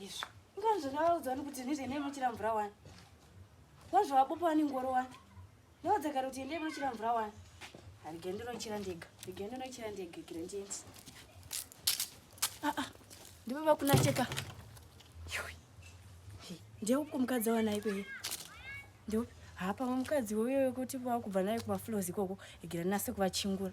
Izvo. Ngani zvakavaudza wani kuti ndizvo endei munochera mvura wani. Wazvavabopa wani ngoro wani. Ndaudza kare kuti endei munochera mvura wani. Harigende ndinochera ndega. Harigende ndinochera ndega kire ndiende. Ah ah. Ndipo vakuna cheka. Yoi. Ndiye uko mukadzi wanai kweye. Ndipo hapa mukadzi woyo wekuti vakubva naye kumafloors ikoko. Igira nase kuvachingura.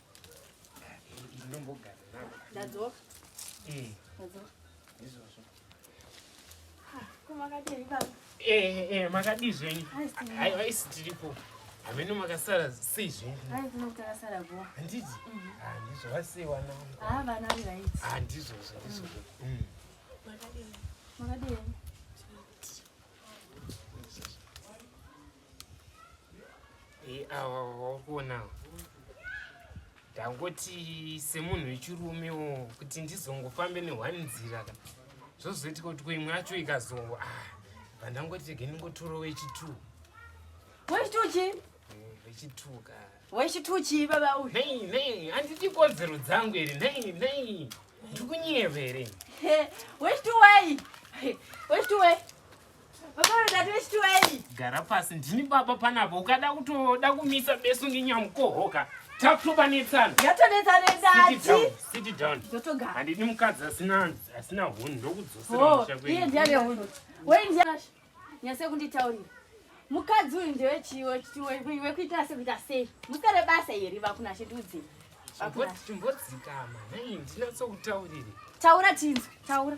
makadii zvenyu aiwa isi tiripo hameno makasara sei zvenyuhanditi handizvo vasei wana handizvozvo ndizvozvo Eh, awakuonawo ndangoti semunhu wechirume wo kuti ndizongofambe nehwani nzira ka zvozoitika kuti koimwe yacho ikazowa ah, pandangoti rege ndingotoro wechitu wechituchi wechitu eh, ka wechituchi baba uyu nei nei handiti kodzero dzangu here nei nei ndikunyevere wechitu wei wechitu wei gara pasi ndini baba panapa ukada kutoda kumisa besu ngenyamukohoka takutopanetsana handidi mukadzi asina hunhu ndokudzoseraiye oh, ndiane hunhu nyase kunditaurira mukadzi uyu ndewechitiwekuita sekuita sei musere basa iri vakunashe ndiudzei chimbodzikama nei ndinatsokutaurire taura tinzwe taura